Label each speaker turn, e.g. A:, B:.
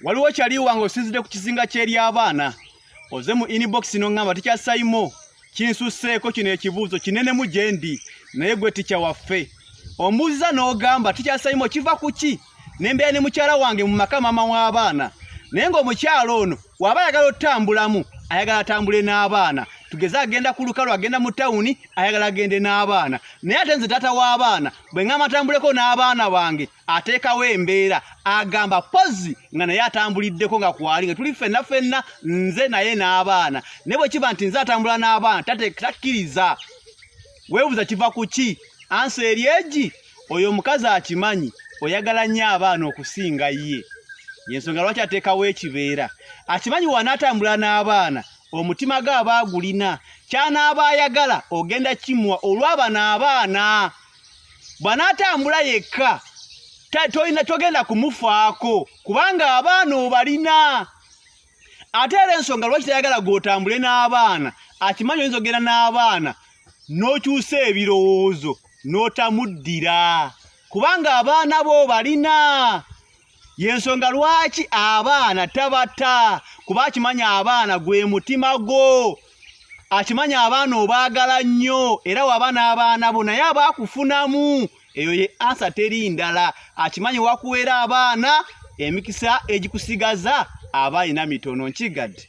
A: waliwo kyali wange osinzidde ku kizinga ky'ery'abaana oze mu inbox n'oŋŋamba tekyasayimo kinsusseeko kino ekibuuzo kinenemu gye ndi naye gwe tikya waffe ombuuziza n'ogamba tekyasayimo kiva ku ki nembeera ne mukyala wange mu maka maama w'abaana naye ng'omukyala ono waba ayagala otutambulamu ayagala atambule n'abaana tugeze agenda ku lukalu agenda mu tawuni ayagala agende n'abaana naye ate nze taata w'abaana bwe ŋama atambuleko n'abaana bange ateekawo embeera agamba pozi nga naye atambuliddeko nga kwali nga tuli fenna fenna nze naye n'abaana naye bwe kiba nti nze atambula n'abaana takkiriza weebuza kiva ku ki ansi eri egi oyo omukazi akimanyi oyagala nnyo abaana okusinga ye yensonga lwaki ateekawo ekibeera akimanyi wanaatambula n'abaana omutima ge aba agulina kyanaaba ayagala ogenda kimwa olw'abana abaana bw'anaatambula yekka tolina togenda kumufaako kubanga abaana obalina ate era ensonga lwaki tayagala gw'otambule n'abaana akimanyi oyinza ogenda n'abaana n'okyusa ebirowoozo n'otamuddira kubanga abaana bo obalina yensonga lwaki abaana tabata kuba akimanya abaana gwe mutima gwo akimanya abaana obaagala nnyo era waba n'abaana bo naye aba akufunamu eyo ye ansa teri ndala akimanyi wakuweera abaana emikisa egikusigaza aba alina mitono nkigadde